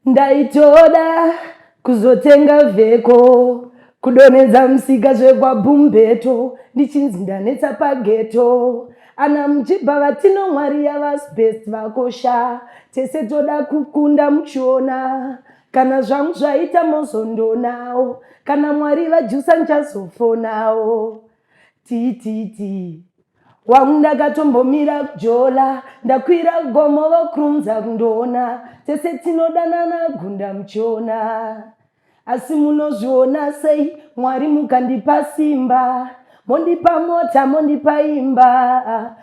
ndaitoda kuzotenga vheko kudonhedza musika zvekwabumbeto ndichinzi ndanetsa pageto ana muchibva vatino mwari yavasbest vakosha tese toda kukunda muchiona kana zvangu zvaita mozondonawo kana mwari vajusa nchazofonawo tii tii tii wangu ndakatombomira kujola ndakwira gomo vokrunza kundoona tese tinodanana gunda muchiona asi munozviona sei mwari mukandipa simba mondipa mota mondipa imba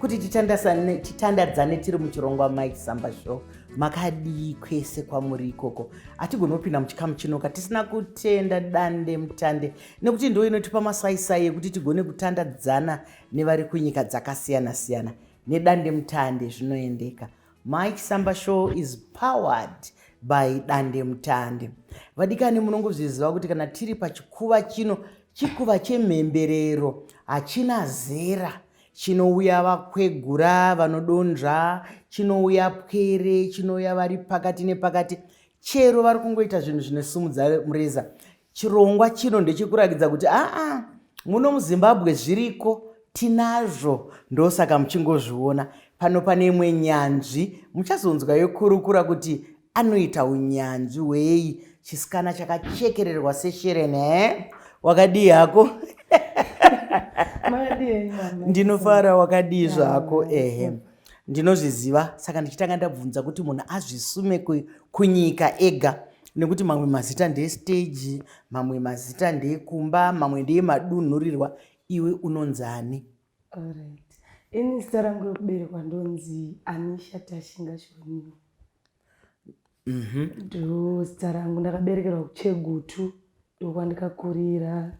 kuti titandadzane tiri muchirongwa mike samba show makadii kwese kwamuri ikoko hatigoni kupinda muchikamu chinoka tisina kutenda dande mutande nekuti ndo inotipa masaisai ekuti tigone kutandadzana nevari kunyika dzakasiyana siyana nedande mutande zvinoendeka mike samba show is powered by dande mutande vadikani munongozviziva kuti kana tiri pachikuva chino chikuva chemhemberero hachina zera Chinouya vakwegura vanodonzva, chinouya pwere, chinouya vari pakati nepakati, chero vari kungoita zvinhu zvinosumudza mureza. Chirongwa chino ndechekurakidza kuti aa muno muzimbabwe zviriko tinazvo ndosaka muchingozviona pano pane imwe nyanzvi muchazonzwa yokurukura kuti anoita unyanzvi hwei chisikana chakachekererwa seshereni e eh? wakadii hako ndinofara wakadii zvako ehe ndinozviziva saka ndichitanga ndabvunza kuti munhu azvisume kunyika ega nekuti mamwe mazita ndeesteji mamwe mazita ndeekumba mamwe ndeemadunhurirwa iwe unonzani Alright. Ini zita rangu rekuberekwa ndonzi Anisha Tashinga Shoniwa. Mhm. Ndo zita rangu ndakaberekerwa kuChegutu ndokwandikakurira.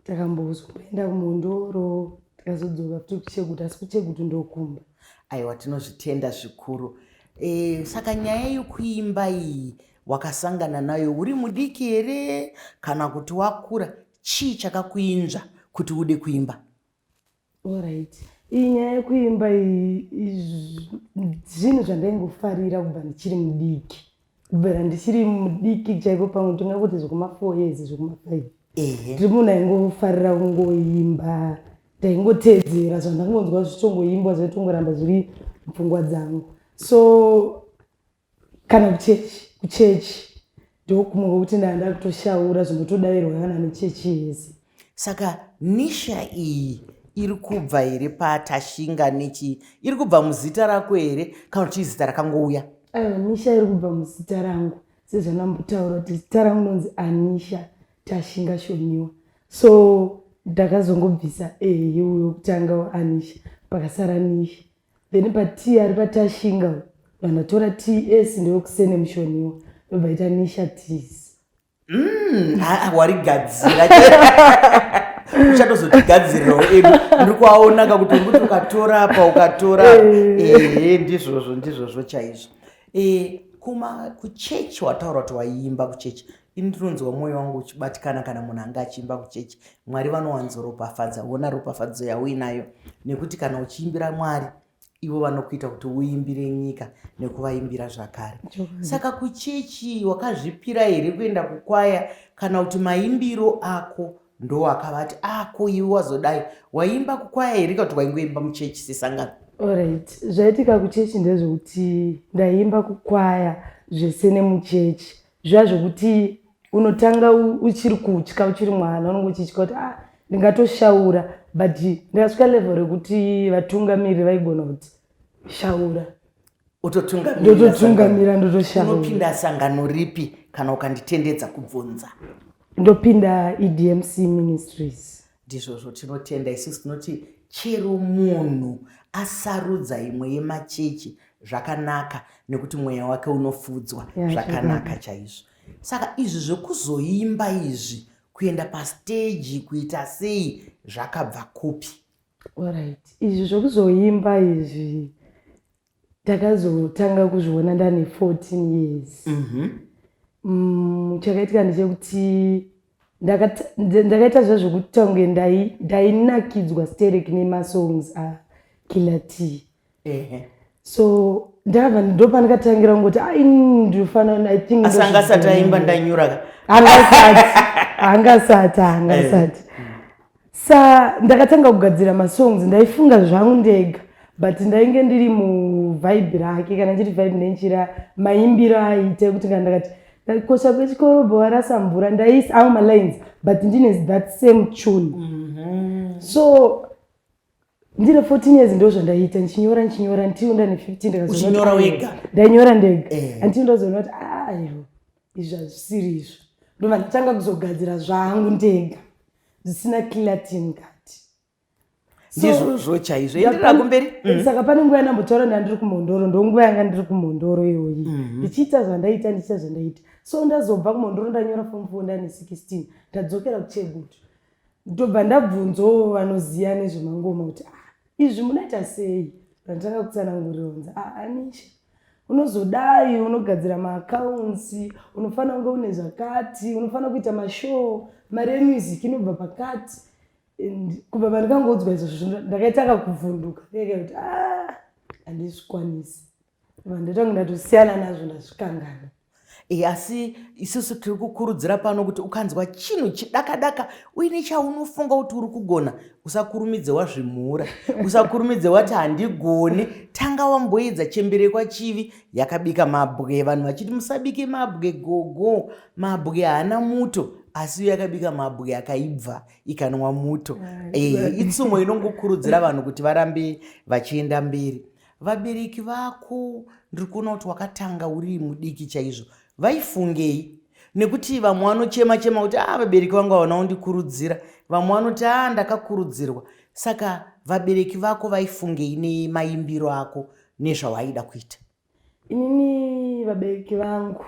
Takambozomboenda kuMhondoro tikazodzoka futi kuChegutu asi kuChegutu ndokumba. aiwa tinozvitenda zvikuru e, saka nyaya yekuimba iyi wakasangana nayo uri mudiki here kana kuti wakura chii chakakuinzva kuti ude kuimba orit iyi nyaya yekuimba zvinhu zvandaingofarira kubva ndichiri mudiki kubvira ndichiri mudiki chaipo pamwe tinga kuti zvekumafour years zvekumafive tiri munhu aingofarira kungoimba ndaingotedzera zvandangonzwa zvichongoimbwa zvaitongoramba zviri mupfungwa dzangu so kana kuchechi kuchechi ndokumwe kwekuti ndaa ndakutoshaura zvinotodairwa kana nechechi yese saka nisha iyi iri kubva here patashinga nechii iri kubva muzita rako here kana kuti izita rakangouya aiwa nisha iri kubva muzita rangu sezvanambotaura kuti zita rangu nonzi anisha tashinga shoniwa so ndakazongobvisa ehe yeuyo kutanga anisha pakasara nisha then patii ari patashinga uyu vanhu vatora ts ndewekusene mushoniwa ndobva ita nisha tis Mm, ah, ah, warigadzira uchatozotigadzirirawo edu ndiri kuaona ka kuti urikuti ukatora apa ukatora ehe ndizvozvo ndizvozvo chaizvo Eh, kuma kuchechi wataura kuti waiimba kuchechi Ini ndinonzwa mwoyo wangu uchibatikana kana munhu anga achiimba kuchechi. Mwari vanowanzoropafadza, hona ropafadzo yauinayo. Nekuti kana uchiimbira Mwari, ivo vanokuita kuti uimbire nyika nekuvaimbira zvakare. Saka kuchechi wakazvipira here kuenda kukwaya kana kuti maimbiro ako ndowakavati ako ah, iwe wazodai waimba kukwaya here kana kuti waingoimba muchechi sesangano? Alright, zvaitika kuchechi ndezvekuti ndaiimba kukwaya zvese nemuchechi zviya zvekuti unotanga uchiri kutya uchiri mwana unenge uchitya kuti ah ndingatoshaura but ndikasvika level rekuti vatungamiri vaigona kuti shaura ndototungamira ndotoshaunopinda sangano ripi kana ukanditendedza kubvunza ndopinda edmc ministries Ndizvozvo tinotenda isusu tinoti chero munhu asarudza imwe yemachechi zvakanaka nekuti mweya wake unofudzwa zvakanaka chaizvo saka izvi zvekuzoimba izvi kuenda pasteji kuita sei zvakabva kupi orit izvi zvekuzoimba izvi ndakazotanga kuzviona ndane 14 years mhm. mm, chakaitika ndechekuti ndakaita zva zvekuti tange ndainakidzwa sterek nemasongs akiller t so ndava ndopandakatangira kungoti aindifanaaanga asati aimba ndanyuraka angasati angasati angasati eh. sa ndakatanga kugadzira masongs ndaifunga zvangu ndega but ndainge ndiri muvibe rake kana ndiri vibe ndenjira maimbiro aite kuti kana ndakati kosha kwechikoro bowarasa mvura ndaisa awo malines but ndine that same tune mm -hmm. so ndine 14 years ndo zvandaiita ndichinyora ndichinyora ndichiwo ndane 15 uchinyora wega ndainyora ndega eh. andichiwo ndazoona kuti ah, aiwa izvi hazvisiri izvo ndova nditanga kuzogadzira zvangu ndega zvisina clatin kati ndizvozvo chaizvo enderera kumberi mm. saka pane nguva yandambotaura nda ndiri kumhondoro ndonguva yanga ndiri kumhondoro iyoyi mm-hmm. ndichiita zvandaiita ndichiita zvandaiita so ndazobva kumhondoro ndanyora fom fo ndane 16 ndadzokera kuchegutu Ndobva ndabvunzawo vanoziva nezvemangoma kuti ah, izvi munoita sei randitanga kutsanangurira unzi ah, anisha unozodai unogadzira maaccounts unofanira kunge une zvakati unofanira kuita mashow mari yemusic inobva pakati and kubva pandikangoudzwa izvozvo ndakaitanga kuvhunduka ndikaita kuti ah, handizvikwanisi Ndotonga ndati siyana nazvo ndazvikangana. E, asi isusu tiri kukurudzira pano kuti ukanzwa chinhu chidakadaka uine chaunofunga kuti uri kugona usakurumidze wazvimhura usakurumidze wati handigoni tanga wamboedza chembere kwachivi yakabika mabwe vanhu vachiti musabike mabwe gogo mabwe haana muto asi iyo yakabika mabwe akaibva ikanwa muto e, itsumo inongokurudzira vanhu kuti varambe vachienda mberi Vabereki vako ndiri kuona kuti wakatanga uri mudiki chaizvo. Vaifungei? Nekuti vamwe vanochema chema kuti ah vabereki vangu havana kundikurudzira. Vamwe vanoti ah ndakakurudzirwa. Saka vabereki vako vaifungei nemaimbiro ako nezvawaida kuita? Inini vabereki vangu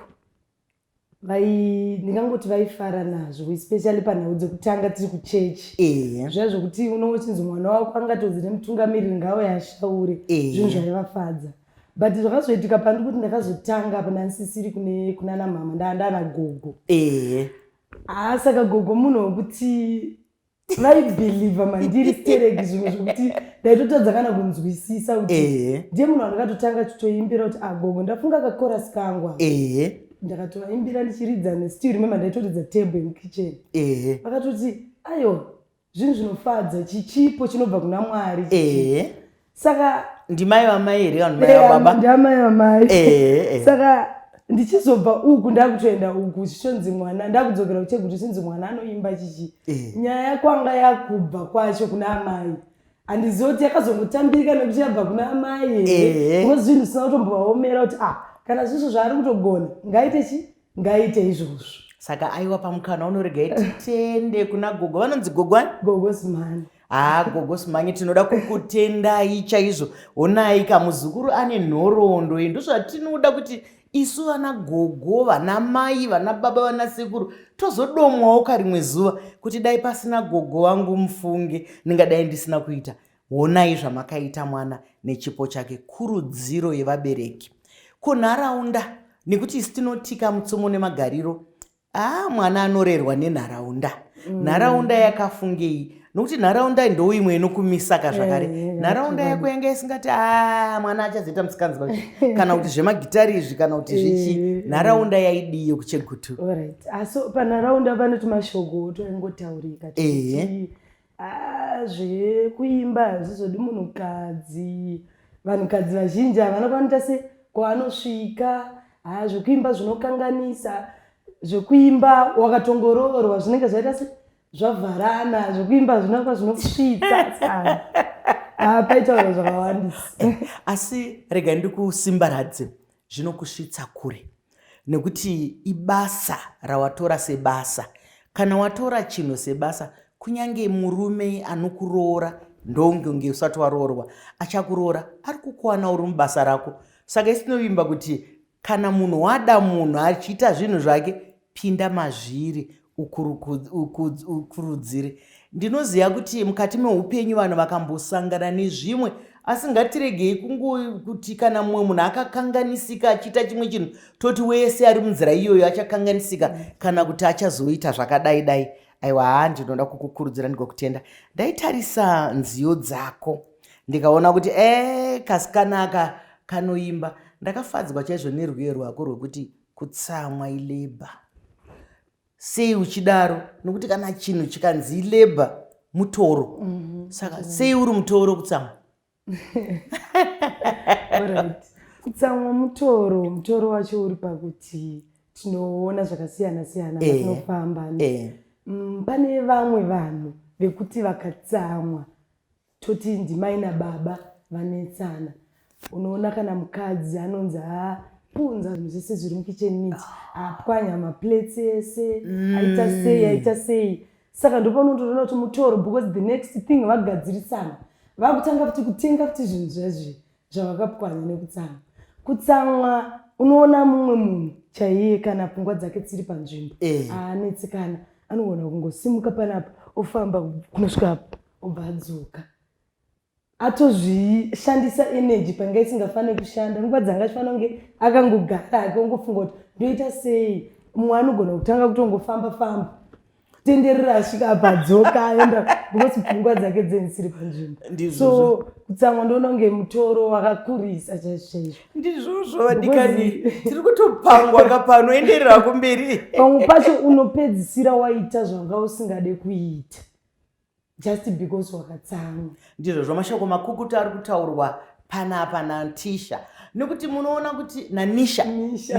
vai ndingangoti vaifara nazvo especially panhau dzekutanga tiri kuchechi eya zviya zvokuti unochinzi mwana wako angatonzi nemutungamiriri ngawo yaashaure Ehe. zvinhu zvaivafadza but zvakazoitika pandi kuti ndakazotanga apa ndanisisiri kune kunana mhama ndaa ndaana gogo ehe haa saka gogo munhu wekuti vaibhilivha mandiri stereki zvinhu zvekuti ndaitotadza kana kunzwisisa kuti ndiye munhu andakatotanga chitoimbira kuti agogo ah, ndafunga kakorasi kangwa ndakatovaimbira ndichiridza nestill remember ndaitoridza table yemukitchen vakatoti ayo zvinhu zvinofadza chichipo chinobva kuna mwari saka ndimai vamai here vanhu mai vababa ndamai vamai eh, eh. saka ndichizobva uku ndakutoenda uku zvichonzi mwana ndakudzokera kucheguru zvichonzi mwana anoimba chichi eh. nyaya yakwanga yakubva kwacho kuna amai handizivi kuti yakazongotambirika nekuti yabva kuna amai here unozvinhu zvisina kutombovaomera kuti ah kana zvisvo zvaari kutogona ngaite chi ngaite izvozvo saka aiwa pamukana unorega iti tiende kuna gogo vanonzi gogo ani gogo simani haa gogo simani tinoda kukutendai chaizvo honai ka muzukuru ane nhoroondo ye ndozvatinoda kuti isu vana gogo vana mai vana baba vana sekuru tozodomwawo ka rimwe zuva kuti dai pasina gogo vangu mufunge ndingadai ndisina kuita Honai zvamakaita mwana nechipo chake, kurudziro yevabereki kunharaunda nekuti isi tinotika mutsumo nemagariro aa mwana anorerwa nenharaunda mm. nharaunda yakafungei nokuti nharaunda ndo imwe inokumisaka zvakare eh, eh, nharaunda yako yanga isingati a mwana achazoita musikanzwa kana kuti zvemagitari izvi kana kuti zvichi eh, nharaunda yaidii yekuchegutu asi panharaunda panoti mashoko otoingotaurika Haa zvekuimba hazvizodi munhukadzi. Vanhukadzi vazhinji havana kwanoita se kwaanosvika. Haa zvekuimba zvinokanganisa. Zvekuimba wakatongoroorwa zvinenge zvaita se zvavharana. Zvekuimba zvinova zvinosvitsa. Haa paitaura zvakawandisa. Asi rega ndikusimbaradze. zvinokusvitsa kure nekuti ibasa rawatora sebasa kana watora chinhu sebasa kunyange murume anokuroora ndongonge usati waroorwa achakuroora ari kukuwana uri mubasa rako saka isinovimba kuti kana munhu wada munhu achiita zvinhu zvake pinda mazviri ukurudzire ndinoziva kuti mukati meupenyu vanhu vakambosangana nezvimwe asi ngatiregei kungokuti kana mumwe munhu akakanganisika achiita chimwe chinhu toti wese ari munzira iyoyo achakanganisika kana kuti achazoita zvakadai dai aiwa haa ndinoda kukukurudzira ndigokutenda ndaitarisa nziyo dzako ndikaona kuti e eh, kasikanaka kanoimba ndakafadzwa chaizvo nerwiyo rwako rwekuti Kutsamwa ilabour. Sei uchidaro? Nokuti kana chinhu chikanzi ilabour mutoro. Saka sei uri mutoro kutsamwa? Alright. Kutsamwa mutoro, mutoro wacho uri pakuti tinoona zvakasiyana siyana Eh. patinofamba. Eh. Mm, Pane vamwe vanhu vekuti vakatsamwa toti ndimai nababa vanetsana unoona kana mukadzi anonzi apunza zvinhu zvese zviri mukicheni miti apwanya maplates ese mm. aita sei aita sei saka ndopanotoona kuti mutoro because the next thing vagadzirisana vakutanga kuti kutenga kuti zvinhu zvezvi zvavakapwanya nekutsamwa kutsamwa unoona mumwe munhu chaiye kana pfungwa dzake dziri panzvimbo eh. aanetsekana anogona kungosimuka panapa ofamba kunosvika apa obva adzoka atozvishandisa energy panga isingafanire kushanda nguva dzanga achifanira kunge akangogara ake ongofunga kuti ndoita sei mumwe anogona kutanga kutongofamba famba tenderera asvika apa adzoka aenda because pfungwa dzake dzenisiri panzvimbo so kutsamwa ndoona kunge mutoro wakakurisa chaizvochaizvo ndizvozvo vadikani tiri kutopangwa ka pano enderera kumberi pamwe pacho unopedzisira waita zvanga usingade kuita just because wakatsamwa ndizvo zvamashoko makukutu ari kutaurwa panapa nantisha nekuti munoona kuti nanisha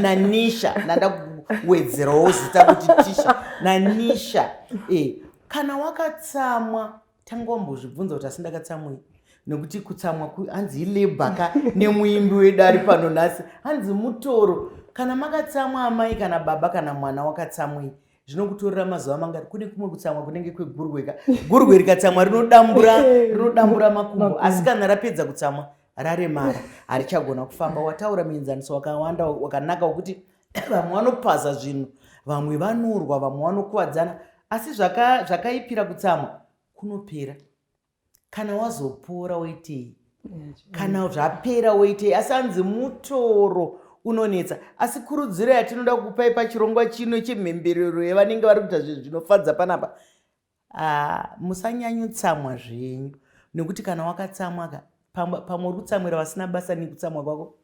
nanisha nandakuwedzerawo zita kuti tisha nanisha e kana wakatsamwa tangombozvibvunza kuti asi ndakatsamwei nekuti kutsamwa hanzi ilabor ka nemuimbi wedu ari pano nhasi hanzi mutoro kana makatsamwa amai kana baba kana mwana wakatsamwei zvinokutorera mazuva mangati kune kumwe kutsamwa kunenge kwegurwe ka gurwe rikatsamwa rinodambura rinodambura makumbo asi kana rapedza kutsamwa raremara harichagona kufamba wataura muenzaniso wakawanda wakanaka wekuti vamwe vanopaza zvinhu vamwe vanorwa vamwe vanokuvadzana asi zvakaipira kutsamwa kunopera kana wazopora woitei kana zvapera woitei asi anzi mutoro unonetsa asi kurudziro yatinoda kukupai pachirongwa chino chemhemberero yevanenge vari kuita zvinhu zvinofadza panapa ah, musanyanyutsamwa zvenyu nekuti kana wakatsamwaka pamwe uri kutsamwira vasina basa nekutsamwa kwako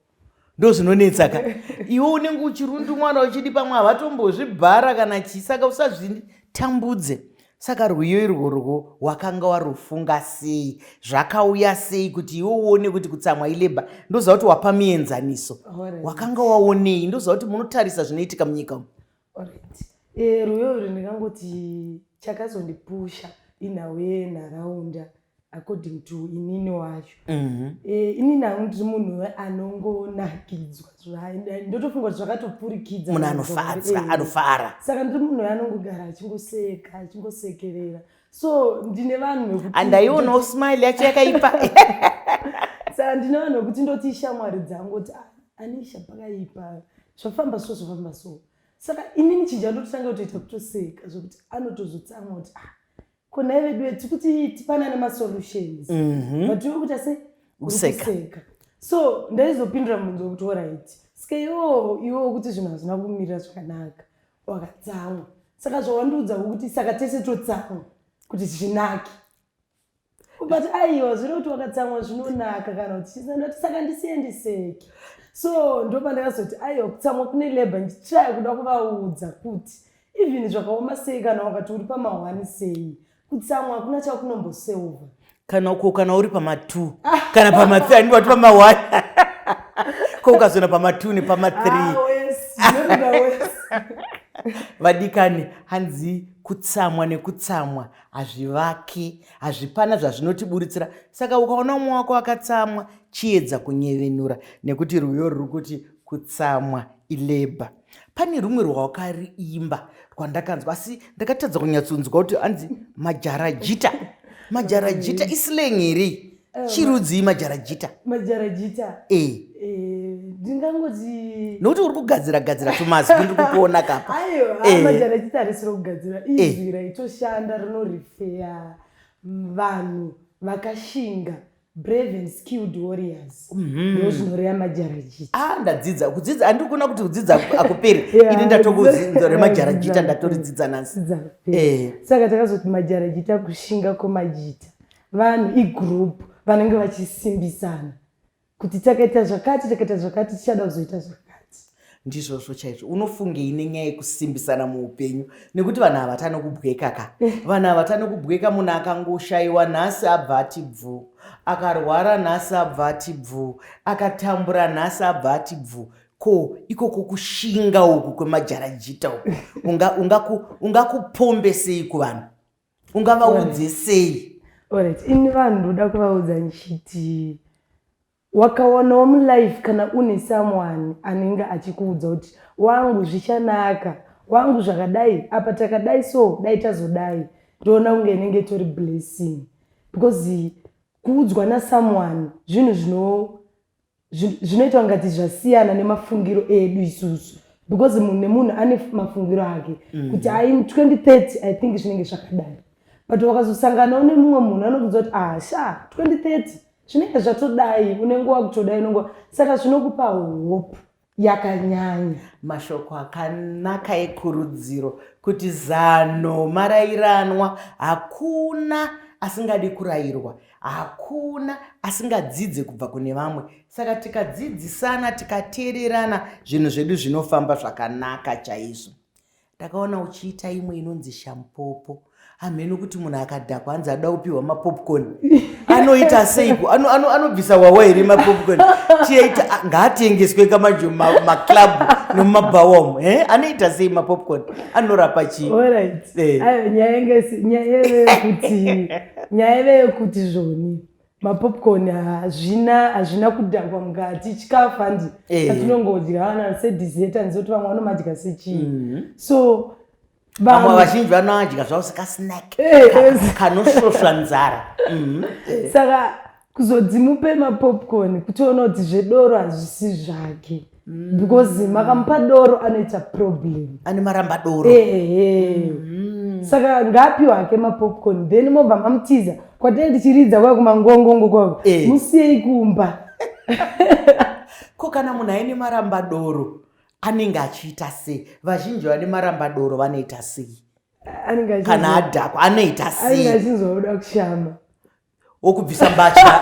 ndozvinonetsa ka iwe unenge uchirundu mwana uchidi pamwe havatombozvibhara kana chii saka usazvitambudze saka rwiyo irworwo wakanga warufunga sei zvakauya sei kuti iwe uone kuti kutsamwa ileba ndoziva kuti wapa mienzaniso wakanga waonei ndoziva kuti munotarisa zvinoitika munyika umu Alright. Eh, rwiyo uri ndingangoti chakazondipusha inhau yenharaunda according to inini wacho mhm. eh, inini hangu ndiri munhu anongonakidzwa ndotofunga kuti zvakatopfurikidza munhu anofadza eh, anofara saka ndiri munhu anongogara achingoseka achingosekerera mm. so ndine vanhu andaiona usmile yacho yakaipa sa ndine vanhu vekuti ndoti ishamwari dzangu kuti ah, anisha pakaipa zvafamba so zvafamba so saka inini chinja ndototanga kutoita kutoseka zvekuti anotozotsamwa kuti ah kona vedu tiri kuti tipana nemasolutions mhm. but iwe kuita se useka so ndaizopindura mubvunzo wekuti orit skeyo iwe wekuti zvinhu hazvina kumirira zvakanaka wakatsamwa saka zvawandiudza kuti saka tese totsamwa kuti zvinake but aiwa zvino kuti wakatsamwa zvinonaka kana kuti chisandati saka ndisiendiseke so ndopa ndakazoti aiwa kutsamwa kune labor ndichaya kuda kuvaudza kuti even zvakaoma sei kana wakati uri pamahwani sei kutsamwa hakuna chakunomboseova kana uko kana uri pama2 kana pama3 anenge vati pama1 ko ukazoona pama2 nepama3 ah, vadikani hanzi kutsamwa nekutsamwa hazvivaki hazvipana zvazvinotiburitsira saka ukaona umwe wako akatsamwa chiedza kunyevenura nekuti rwiyo ruri kuti kutsamwa ilebha pane rumwe rwawakariimba rwandakanzwa asi ndakatadza kunyatsonzwa kuti anzi majarajita majarajita isileng here eh, chirudzii majarajita majarajita e eh. eh, ndingangozi nokuti uri kugadzira gadzira tumazwi ndiri kukuona kapa majarajita harisiro kugadzira izwi raitoshanda rinorifeya vanhu vakashinga brave and skilled warriors mhm. ndozvinoreya majarajita ah ndadzidza kudzidza andiri kuona kuti kudzidza akuperi ini ndatokuzinzo remajarajita ndatoridzidza nansi eh. saka takazoti majarajita kushinga kwemajita vanhu igroup vanenge vachisimbisana kuti takaita zvakati takaita zvakati tichada kuzoita zvakati ndizvozvo chaizvo unofungei nenyaya yekusimbisana muupenyu nekuti vanhu havatane kubweka ka vanhu havatane kubweka munhu akangoshaiwa nhasi abva ati bvu akarwara nhasi abva ati bvu akatambura nhasi abva ati bvu ko ikoko kushinga uku kwemajarajita uku ungakupombesei unga, unga kuvanhu ungavaudze sei orit ini vanhu ndoda kuvaudza ndichiti Wakawanawo mu life kana une someone anenge achikuudza kuti wangu zvichanaka, wangu zvakadai apa takadai so dai tazodai ndoona kunge inenge itori blessing because kuudzwa na someone zvinhu zvino zvinoita kungati zvasiyana nemafungiro edu isusu because munhu nemunhu ane mafungiro ake mm. kuti ai 2030 i think zvinenge zvakadai but wakazosanganawo nemumwe munhu anokuudza kuti ah sha 2030 zvinenge zvatodai unenge wakutodai unenge saka zvinokupa hope yakanyanya mashoko akanaka ekurudziro kuti zano marairanwa hakuna asingadi kurayirwa hakuna asingadzidze kubva kune vamwe saka tikadzidzisana tikateererana zvinhu zvedu zvinofamba zvakanaka chaizvo ndakaona uchiita imwe inonzi shampopo hamheno kuti munhu akadhakwa hanzi ada kupiwa mapopcorn anoita seiko anobvisa ano, ano wawa here mapopcorn chiyaita ah, ngaatengeswe ka manje maclub ma nemumabhawom eh? anoita sei mapopcorn anorapa chii eh. nyaya yeve yekuti zvoni mapopcorn hazvina hazvina kudhakwa mukati chikafu handi eh. atinongodya ana sedizet anzoti vamwe vanomadya sechii mhm. so vamwe vazhinji vanoadya zvavo sekasnack eh, eh. kanosvosva nzara mhm. saka kuzodzimupe mapopcorn kutiona kuti zvedoro hazvisi zvake mm. because makamupa doro anoita problem ane maramba doro ehe mm. saka ngaapiwa hake mapopcorn then mobva mamutiza kwatee tichiridza kwaa kumangongongo kwavo eh. musiyei kumba ko kana munhu aine maramba doro anenge achiita sei vazhinji vane maramba doro vanoita sei kana adhakwa anoita sei achinzwa kuda kushama wokubvisa mbatya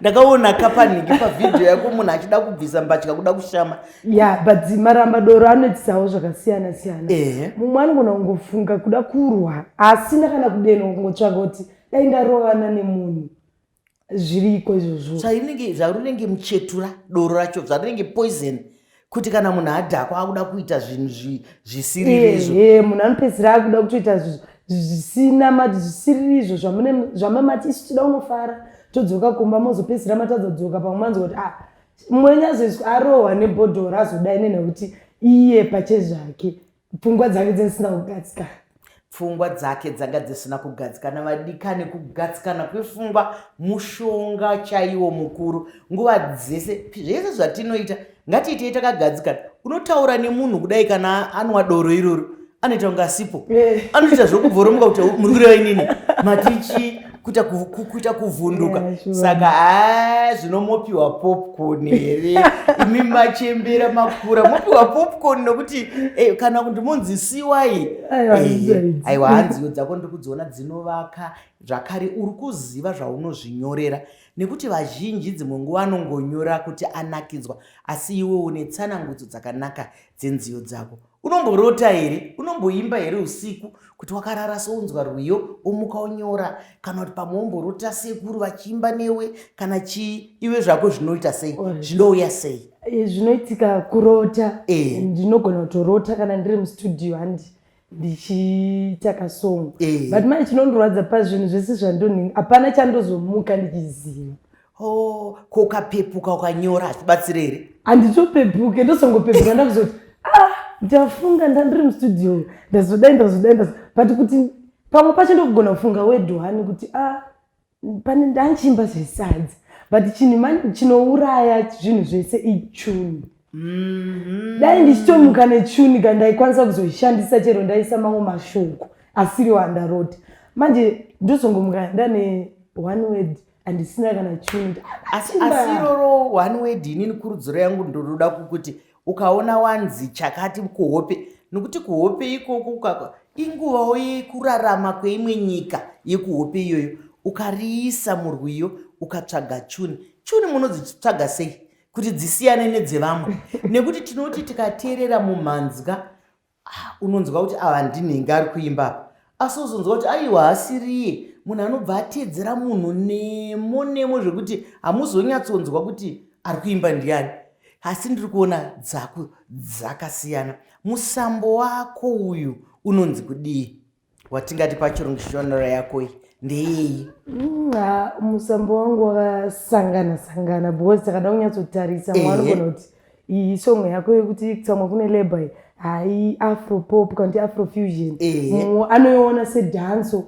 ndakaona kapaniki pavhidhiyo yako munhu achida kubvisa mbatya kuda kushama ya but maramba doro anoitisawo zvakasiyana siyana mumwe anogona kungofunga kuda kurwa asina kana kudenwa kungotsvaga kuti dai ndarovana nemunhu zviriko izvozvo zvarinenge zvarinenge muchetura doro racho zvarinenge poison kuti kana munhu adhakwa akuda kuita zvinhu zvisiririzvo ehe munhu anopedzisira akuda kutoita zvisina mati zvisiririzvo zvamamati isu tida unofara todzoka kumba mozopedzisira matadza kudzoka pamwe manzi kuti ah mwenyu azoiswa arohwa nebhodhoro azodai nenekuti iye pache zvake pfungwa dzake dzisina kugadzikana pfungwa dzake dzanga dzisina kugadzikana vadikani kugadzikana kwepfungwa mushonga chaiwo mukuru nguva dzese zvese zvatinoita ngatiitei takagadzikana unotaura nemunhu kudai kana anwa doro iroro anoita kunga asipo eh. anoita zvokubvoromuka kuti muri kureva inini matichi kuita kuita kuvhunduka saka haa zvino mopiwa popcorn here imi machembera makura mopiwa popcorn nokuti eh, kana kuti munzi siwai aiwa eh, hanziyo dzako ndiri kudziona dzinovaka zvakare uri kuziva zvaunozvinyorera nekuti vazhinji dzimwe nguva anongonyora kuti anakidzwa asi iwe une tsanangudzo dzakanaka dzenziyo dzako Unomborota here? Unomboimba here usiku kuti wakarara sounzwa rwiyo omuka onyora kana kuti pamwe womborota sekuru vachiimba newe kana chii iwe zvako zvinoita sei zvinouya sei? Eh, zvinoitika kurota eh. ndinogona kutorota kana ndiri mustudio handi ndichiita kasongo eh. but manje chinondirwadza pazvinhu zvese zvandonhinga hapana chandozomuka ndichiziva Oh, ko ukapepuka ukanyora hazvibatsire here? Handitopepuke, ndozongopepuka ndakuzoti ah, ndafunga ndandiri mustudio ndazodai ndazodai ndazo but kuti pamwe pacho ndokugona kufunga wedhuhani kuti ah, pane ndanchiimba zvesadzi but chinhu mani chinouraya zvinhu zvese ichuni Mhm. dai ndichitomuka nechuni ka ndaikwanisa kuzoishandisa chero ndaisa mamwe mashoko asiriwo andarota manje ndozongomuka ndane one word handisina kana chimwe asi iroro one word inini kurudziro yangu ndonoda kukuti ukaona wanzi chakati kuhope nokuti kuhope ikoko ukaka inguvawo yekurarama kweimwe nyika yekuhope iyoyo ukariisa murwiyo ukatsvaga chuni chuni munodzitsvaga sei kuti dzisiyane nedzevamwe nekuti tinoti tikateerera mumhanzwa Ah, unonzwa kuti ava ndinenge ari kuimba apa asi uzonzwa kuti aiwa haasiriye munhu anobva ateedzera munhu nemo nemo zvekuti hamuzonyatsonzwa kuti ari kuimba ndiani asi ndiri kuona dzako dzakasiyana musambo wako uyu unonzi kudii watingati pachirungu shonora yako iyi ndeiyi nxa musambo wangu wakasangana sangana because takada kunyatsotarisa mwanogona kuti iyi songo yako yekuti kutsamwa kune labor iyi hai afro pop kana kuti afro fusion anoiona sedanso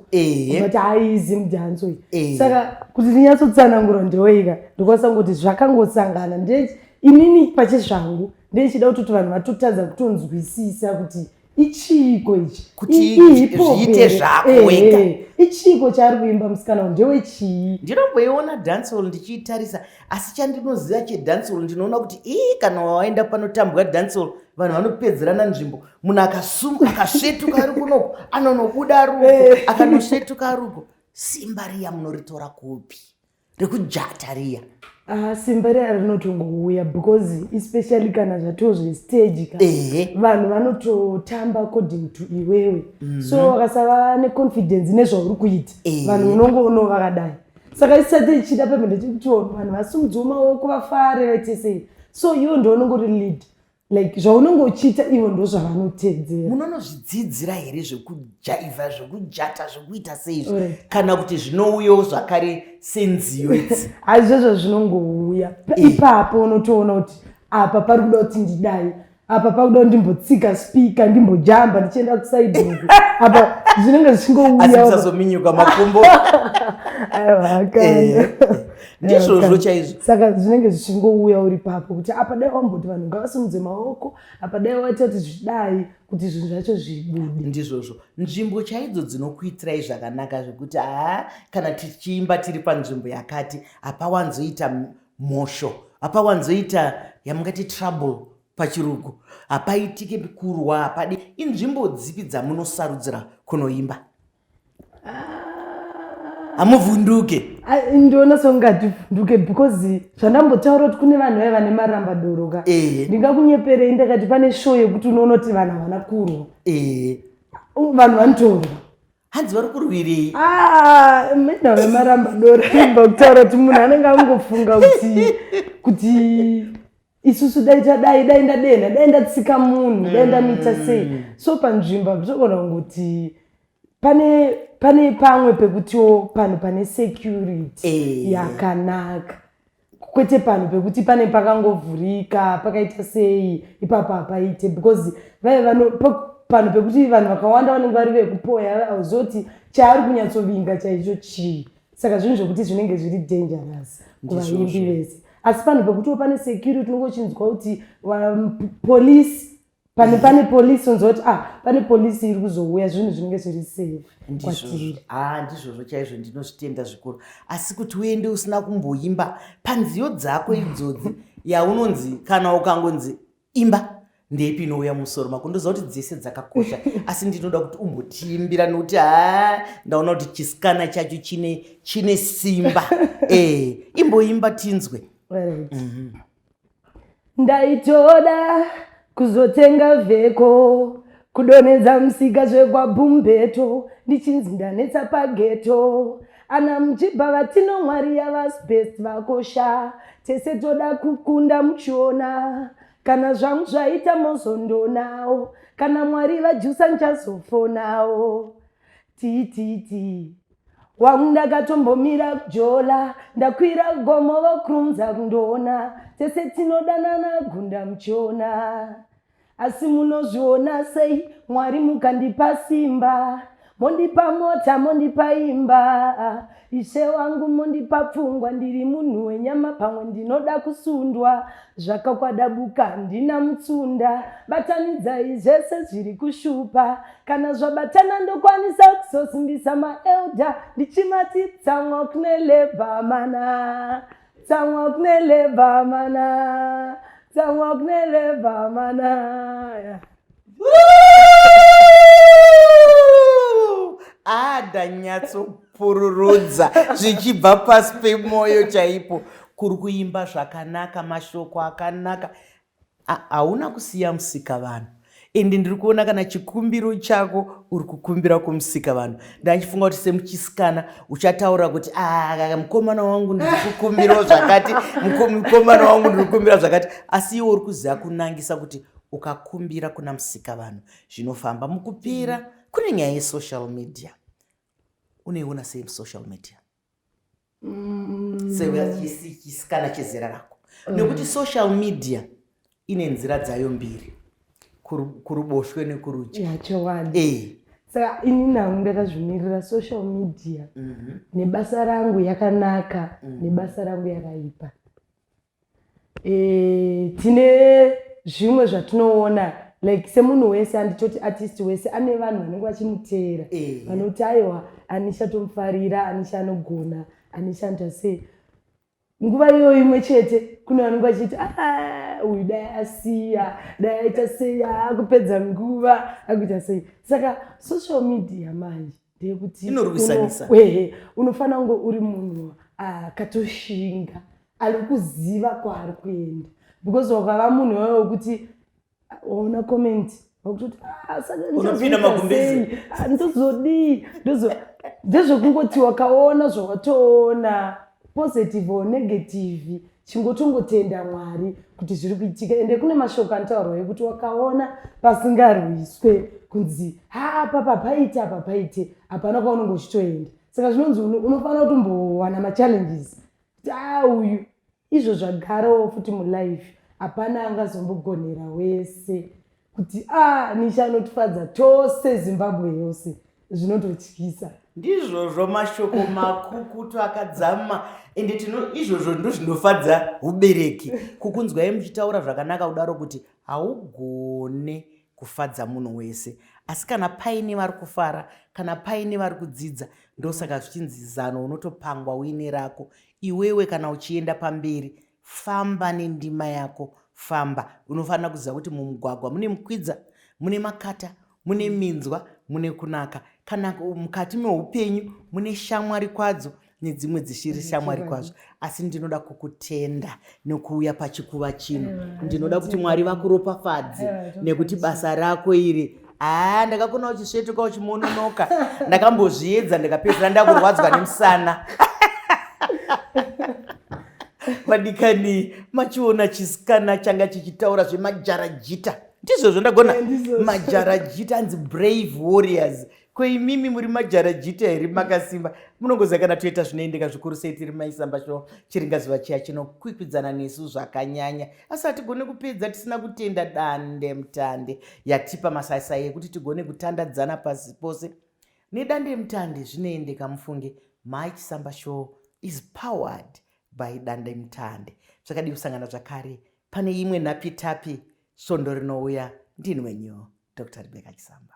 but hai zim danso iyi saka kuti ndinyatsotsanangura ndeweika ndikwanisa kuti zvakangosangana nde inini pachezvangu ndeichida kutoti vanhu vatotadza kutonzwisisa kuti ichiiko ichi kuti zviite zvako eh, wega eh, ichiiko chaari kuimba musikana uyu ndewe chii ndinomboiona dancehall ndichiitarisa asi chandinoziva chedancehall ndinoona kuti ii kana waenda panotambwa dancehall vanhu vanopedzerana nzvimbo munhu akasuma akasvetuka ari kunoko anonobuda ruko eh. akanosvetuka ruko simba riya munoritora kupi rekujata riya Ah, simba riya rinotongouya because especially kana zvatoo zvestage ka Ehe. vanhu vanototamba according to iwewe so vakasava neconfidence nezvauri kuita Ehe. vanhu unongoonoo vakadai saka isati ichida pemene tikuti vanhu vasimudziwo maoko vafare vaite sei so iwe ndiwe unongori lead like zvaunenge uchiita ivo ndozvavanotedzera munonozvidzidzira here zvekujaivha zvekujata zvekuita seizvi right. kana kuti zvinouyawo zvakare senziyo idzi hazvizvozvo zvinongouya eh. ipapo unotoona kuti apa pari kuda kuti ndidai apa pakuda kuti ndimbotsika spika ndimbojamba ndichienda kusaidhii apa zvinenge zvichingouyazominyuka makumbo aiwa eh. ndizvozvo chaizvo saka zvinenge zvichingouya uri papo kuti apa dai wamboti vanhu ngavasimudze maoko apa dai waita kuti zvidai kuti zvinhu zvacho zvibude ndizvozvo nzvimbo chaidzo dzinokuitirai zvakanaka zvekuti haa kana tichiimba tiri panzvimbo yakati hapawanzoita mhosho hapawanzoita yamungati trouble pachirugu hapaitike kurwa hapadi inzvimbo dzipi dzamunosarudzira kunoimba hamuvhunduke ndiona songativhunduke because zvandambotaura kuti kune vanhu vaiva nemaramba doro ka ndingakunyeperei ndakati pane show yekuti unoona kuti vanhu havana kurwa vanhu vanotorwa hanzi vari kurwirei ah, menda vemaramba doro imba kutaura kuti munhu anenge angofunga kuti kuti isusu dai tadai dai ndadenha dai ndatsika munhu dai ndamita mm. sei so panzvimbo apitogona kungoti pane pane pamwe pekutiwo panhu pane security eh. yakanaka kwete panhu pekuti pane pakangovhurika pakaita sei ipapo hapaite because vaive vano panhu pekuti vanhu vakawanda vanenge vari vekupoya auzoti chaari kunyatsovinga chaicho chii saka zvinhu zvekuti zvinenge zviri dangerous kuvaimbi vese asi panhu pekutiwo pane security unenge uchinzwa kuti um, police pane pane polisi unzwa kuti ah pane polisi iri kuzouya zvinhu zvinenge zviri safe kwatiri ah ndizvozvo chaizvo ndinozvitenda zvikuru asi kuti uende usina kumboimba panziyo dzako idzodzi yaunonzi kana ukangonzi Imba ndeipi inouya musoro mako ndoziva kuti dzese dzakakosha asi ndinoda kuti umbotiimbira nokuti ha ndaona kuti chisikana chacho chine chine simba e imboimba tinzwe right. mm -hmm. ndaitoda kuzotenga vheko kudonhedza musika zvekwabhumbeto ndichinzi ndanetsa pageto ana mjibha vatino mwari yavas best vakosha tese toda kukunda muchiona kana zvangu zvaita mozondonawo kana mwari vajusa nchazofonawo tititi wangu ndakatombomira kujola ndakwira gomo vokrumza kundoona tese tinodanana gunda muchiona Asi munozviona sei Mwari mukandipa simba mondipa mota mondipa imba ishe wangu mondipa pfungwa ndiri munhu wenyama pamwe ndinoda kusundwa zvakakwadabuka handina mutsunda batanidzai zvese zviri kushupa kana zvabatana ndokwanisa kuzosimbisa maelda ndichimati tsamwa kune lebhamana Tsamwa kunele bhamana, tsamwa kunele bhamana. ada nyatsopururudza zvichibva pasi pemoyo chaipo kuri kuimba zvakanaka mashoko akanaka Hauna kusiya musikavanhu and ndiri kuona kana chikumbiro chako uri kukumbira kumusikavanhu ndachifunga kuti semuchisikana uchataura kuti ah, mukomana wangu ndiri kukumbirawo zvakati mukomana wangu ndiri kukumbira zvakati asi iwe uri kuziva kunangisa kuti ukakumbira kuna musikavanhu zvinofamba mukupira kune nyaya yesocial media uneiona sei musocial media mm. sechisikana chezera rako mm. nekuti social media ine nzira dzayo mbiri kuruboshwe nekurudyi yachowani eh. saka ini nangu ndakazvimirira social media mm -hmm. nebasa rangu yakanaka mm -hmm. nebasa rangu yakaipa e, tine zvimwe zvatinoona like semunhu wese anditoti artist wese ane vanhu vanenge vachimuteera eh. vanoti aiwa anisha tomufarira anisha anogona anisha anoita sei nguva iyoyo imwe chete kune vanenge vachiti ah, uyu dai asiya dai aita sei akupedza nguva akuita sei saka social media manje ndeyekuti unofanira kunge uri munhu akatoshinga ah, ari kuziva kwaari kuenda because wakava munhu wawe wekuti waona comment wakutoti ah, sakaunopiina magumbezi ah, ndozodii ndozo ndezvekungoti wakaona zvawatoona positive or negative chingotongotenda mwari kuti zviri kuitika ende kune mashoko anotaurwa yekuti wakaona pasingarwiswe kunzi haa papa paite apa paite hapana kwaunenge uchitoenda saka zvinonzi unofanira kutombowana machallenges Taa uyu izvo zvagarawo futi mulife hapana angazombogonera wese kuti a ah, nisha anotifadza tose zimbabwe yose zvinototyisa ndizvozvo mashoko makukutu akadzama ende tino izvozvo ndo zvinofadza ubereki kukunzwai muchitaura zvakanaka kudaro kuti haugone kufadza munhu wese asi kana paine vari kufara kana paine vari kudzidza ndosaka zvichinzi zano unotopangwa uine rako iwewe kana uchienda pamberi famba nendima yako famba unofanira kuziva kuti mumugwagwa mune mukwidza mune makata mune minzwa mune kunaka kana mukati meupenyu mune shamwari kwadzo nedzimwe dzishiri shamwari kwazvo asi ndinoda kukutenda nokuuya pachikuva chino ndinoda kuti mwari vakuropafadze nekuti basa rako iri haa ndakakona uchisvetuka uchimononoka ndakambozviedza ndikapedzera ndakurwadzwa nemusana vadikani machiona chisikana changa chichitaura zvemajarajita ndizvozvo ndagona eh, majarajita anzi brave warriors ko imimi muri majarajita here makasimba munongoziva kana toita zvinoendeka zvikuru sei tiri maisamba sho chiringazuva chiya chinokwikwidzana nesu zvakanyanya asi hatigone kupedza tisina kutenda dande mutande yatipa masaisai ekuti tigone kutandadzana pasi pose nedande mutande zvinoendeka mufunge mai chisamba show is powered by dande mutande zvakadii kusangana zvakare pane imwe nhapitapi svondo rinouya ndinwenyu dr rebeka chisamba